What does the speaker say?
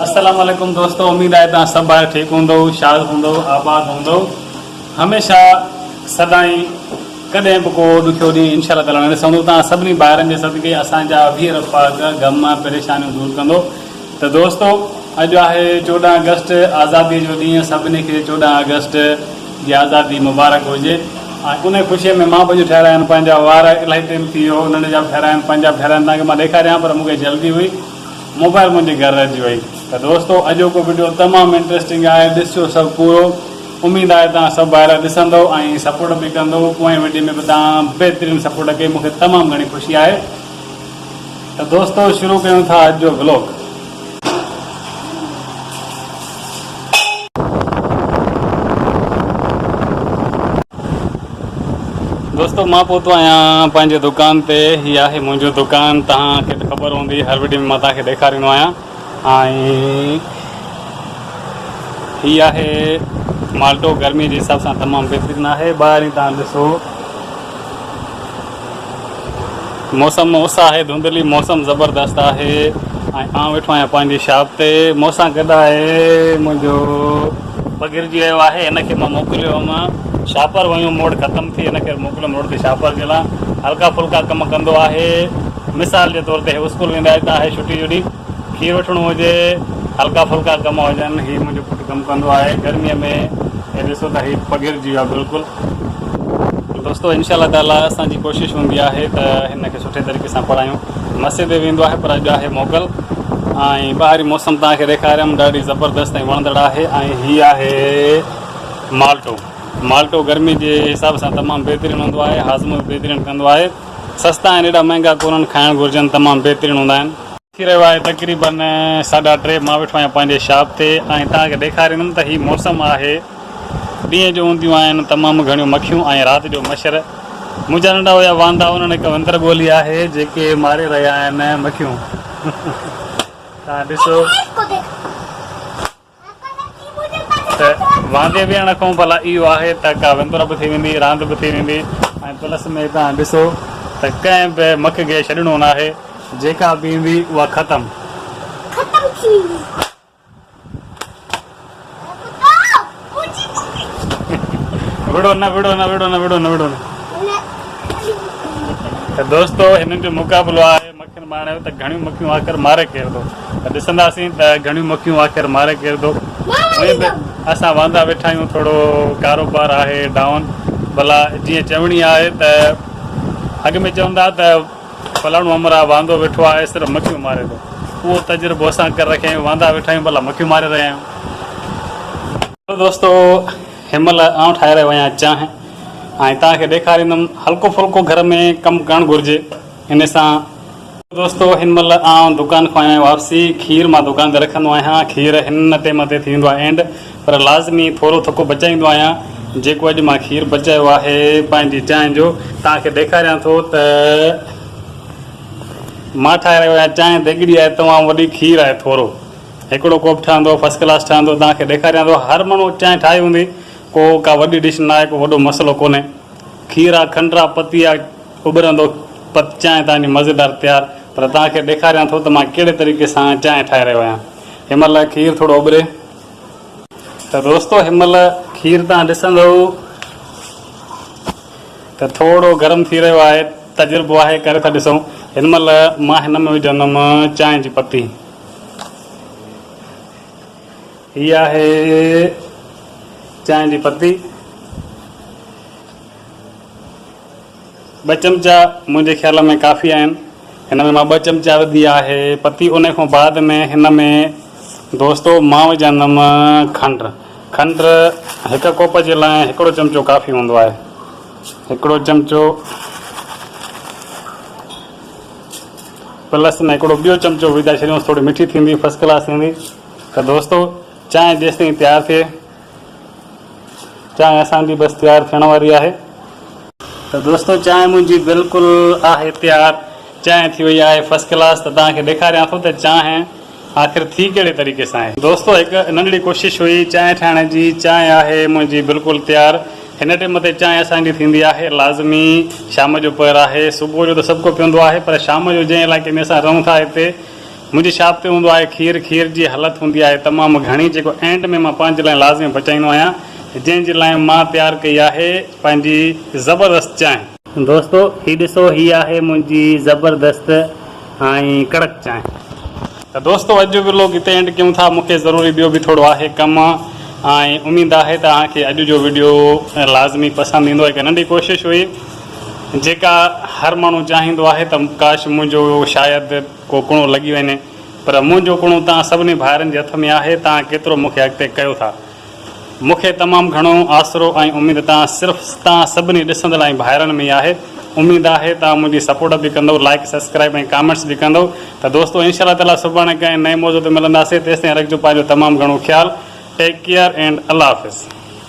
السلام عليڪم دوستو اميد آهي تان سڀ ڀائر ٺيڪ هوندو شاد هوندو آباد هوندو هميشه سدائين ڪڏهن به ڪو ڏکيو ڏينهن انشاء الله تعالی نه ڏسندو تان سڀني ڀائرن جي صدقي اسان جا ويهر پاڪ غم پريشانيون دور ڪندو ته دوستو اڄ آهي چوڏهن آگسٽ آزادي جو ڏينهن سڀني کي چوڏهن آگسٽ جي آزادي مبارڪ هجي ۽ ان خوشي ۾ مان به اڄ ٺهرايا آهن پنهنجا وار الاهي ٽيم ٿي ويو ننڍ جا به ٺهرايا آهن پنهنجا به ٺهرايا آهن تنهن کي مان ڏيکاريان پر مون کي جلدي هئي موبائل منهنجي گهر رهجي وئي ته دوستو اڄوڪو وڊيو تمام انٽرسٽنگ آهي ڏسجو سڀ پورو اميد آهي توهان سڀ ڀائرا ڏسندو ۽ سپورٽ به ڪندو پوئين وڊيو ۾ به توهان بهترين سپورٽ ڪئي مون کي تمام گهڻي خوشي آهي ته دوستو شروع ڪيون ٿا اڄ جو ولوگ. دوستو مان پهتو آهيان پنهنجي دڪان تي هي آهي منهنجو دڪان تهان کي ته خبر هوندي هر وڊيو ۾ مان تهان کي ڏيکاريندو آهيان. هي آهي مالٽو گرمي جي حساب سان تمام بهترين آهي ٻاهرين توهان ڏسو موسم اس آهي ڌنڌلي موسم زبردست آهي ۽ آئون ويٺو آهيان پنهنجي شاپ تي مون سان گڏ آهي منهنجو پگهرجي ويو آهي ان کي مان موڪليو هوم شاهپر ويون موڙ ختم ٿي ان ڪري موڪليم روڊ تي شاهپر جي لا هلڪا ڦلڪا ڪم ڪندو آهي مثال جي طور تي هي اسڪول ويندا هتا آهي ڇٽي جو ڏينهن کير وٺڻو هجي هلڪا ڦلڪا ڪم هجن هي منهنجو پٽ ڪم ڪندو آهي گرمي ۾ هي ڏسو ته هي پگهرجي ويو آهي بلڪل دوستو انشاء الله تعالي اسان جي ڪوشش هوندي آهي ته هن کي سٺي طريقي سان پڙهايون مسجد به ويندو آهي پر اڄ آهي موڪل ۽ ٻاهري موسم توهان کي ڏيکاريم ڏاڍي زبردست ۽ وڻندڙ آهي ۽ هي آهي مالٽو مالٽو گرمي جي حساب سان تمام بهترين هوندو آهي هاضمو به بهترين ڪندو آهي سستا آهن ايڏا مهنگا ڪونن کائڻ گهرجن تمام بهترين هوندا آهن ٿي رهيو آهي تقريبن ساڍا ٽي مان ويٺو آهيان پنهنجي شاپ تي ۽ توهان کي ڏيکاريندم ته هي موسم آهي ڏينهن جو هونديون آهن تمام گهڻيون مکيون ۽ رات جو مڇر منهنجا ننڍا هيا واندا انهن هڪ وندر ڳولي آهي جيڪي ماري رهيا آهن مکيون توهان ڏسو ته واندي ويهڻ کان ڀلا اهو آهي ته ڪا وندر به ٿي ويندي، راند به ٿي ويندي ۽ پلس ۾ توهان ڏسو ته ڪنهن به مک کي ڇڏڻو ناهي، جيڪا به ايندي اها ختم. ختم ٿي ويندي. وڙهو نه وڙهو نه وڙهو نه وڙهو نه وڙهو نه. ته دوستو هنن جو مقابلو آهي. ڪن ماڻهن چيو ته گهڻيون مکيون آخر مارئي ڪير ٿو ته ڏسنداسين ته گهڻيون مکيون آخر مارئي ڪير ٿو هونئن به اسان واندا ويٺا آهيون ٿورو ڪاروبار آهي ڊائون ڀلا جيئن چوڻي آهي ته اڳ ۾ چوندا ته فلاڻو همراهه واندو ويٺو آهي صرف مکيون ماري ٿو اهو تجربو اسان ڪري رکيا آهيون واندا ويٺا آهيون ڀلا مکيون ماري رهيا آهيون دوستو هن مهل آئون ٺاهي رهيو آهيان چانهه ۽ توهان کي ڏيکاريندم هلڪو ڦلڪو گهر ۾ ڪم ڪرڻ گهرجي ان سان دوستو هن مهل آئون دڪان کان آيان واپسي کير مان دڪان تي رکندو آهيان کير هن نه ٽيم تي ٿي ويندو آهي اينڊ پر لازمي ٿورو ٿڪو بچائيندو آهيان جيڪو اڄ مان کير بچايو آهي پنهنجي چانهه جو توهان کي ڏيکاريان ٿو ته مان ٺاهي رهيو آهيان چانهه ديڳڙي آهي تمام وڏي کير آهي ٿورو هڪڙو ڪوپ ٺهندو فرسٽ ڪلاس ٺهندو توهان کي ڏيکاريان ٿو هر ماڻهو چانهه ٺاهي هوندي ڪو ڪا وڏي ڊش نه آهي ڪو وڏو مسئلو ڪونهي کير آهي کنڊ آهي پتي آهي اڀرندو پت چانهه تان جي مزيدار تيار پر توهان کي ڏيکاريان ٿو ته مان ڪهڙي طريقي سان چانهه ٺاهي رهيو آهيان هن مهل کير ٿورو اڀري ته دوستو هن مهل کير توهان ڏسندو ته ٿورو گرم ٿي رهيو آهي تجربو آهي ڪري ٿا ڏسون هن مهل مان هن ۾ وجهندم چانهه جي پتي هي آهي چانهه جي پتي ٻه چمچا منهنجي خيال ۾ ڪافي آهن هن ۾ مان ٻه چمچا وڌي آهي پتي ان کان بعد ۾ هن ۾ دوستو مان وجهندم کنڊ کنڊ هڪ ڪوپ جي لاء هڪڙو چمچو ڪافي هوندو آهي هڪڙو چمچو پلس ۾ هڪڙو ٻيو چمچو وجهائي ڇڏيوس ٿوري مٺي ٿيندي فرسٽ ڪلاس ٿيندي ته دوستو چانهه جيسين تيار ٿئي چانهه اسان جي بس تيار ٿيڻ واري آهي. ته دوستو چانهه منهنجي بلڪل آهي تيار. چانهه ٿي وئي آهي فرسٽ ڪلاس ته توهان کي ڏيکاريان ٿو ته چانهه آخر ٿي ڪهڙي طريقي سان آهي. دوستو هڪ ننڍڙي ڪوشش هئي چانهه ٺاهڻ جي. چانهه آهي منهنجي بلڪل تيار. هن ٽيم تي چانهه اسان جي ٿيندي آهي لازمي شام جو پهر آهي. صبح جو ته سڀ ڪو پيئندو آهي پر شام جو جنهن علائقي ۾ اسان رهون ٿا اتي. منهنجي شاپ تي هوندو آهي کير کير جي هلت هوندي آهي تمام گهڻي جيڪو اينڊ ۾ مان پنهنجي لاء لازمي بچائيندو آهيان جنهن جي لاء مان تيار ڪئي آهي پنهنجي زبردست چانهه. دوستو هي ڏسو هي آهي منهنجي زبردست ۽ ڪڙڪ چانهه. ته دوستو اڄ جو ويلوگ هتي اينڊ ڪيون ٿا مونکي ضروري ٻيو به ٿورو آهي ڪم ۽ اميد آهي ته اوهان کي اڄ جو وڊيو لازمي پسند ايندو هڪ ننڍي ڪوشش هئي جيڪا هر ماڻهو چاهيندو آهي ته ڪاش منهنجو شايد ڪو ڪڻو لڳي وڃي پر منهنجو ڪڻو توهان سڀني ڀائرن جي هٿ ۾ آهي توهان ڪيترو مون کي اڳتي ڪيو ٿا مون کي تمام گهڻو آسرو ۽ اميد توهان صرف توهان سڀني ڏسندڙ ۽ ڀائرن ۾ ئي آهي اميد آهي توهان منهنجي سپورٽ به ڪندؤ لائيڪ سبسڪرائيب ۽ ڪامينٽس به ڪندؤ ته دوستو انشاء الله تعالي سڀاڻي ڪنهن نئين موضوع تي ملنداسين تيستائين رکجو پنهنجو تمام گهڻو خيال ٽيڪ ڪيئر اينڊ الله حافظ.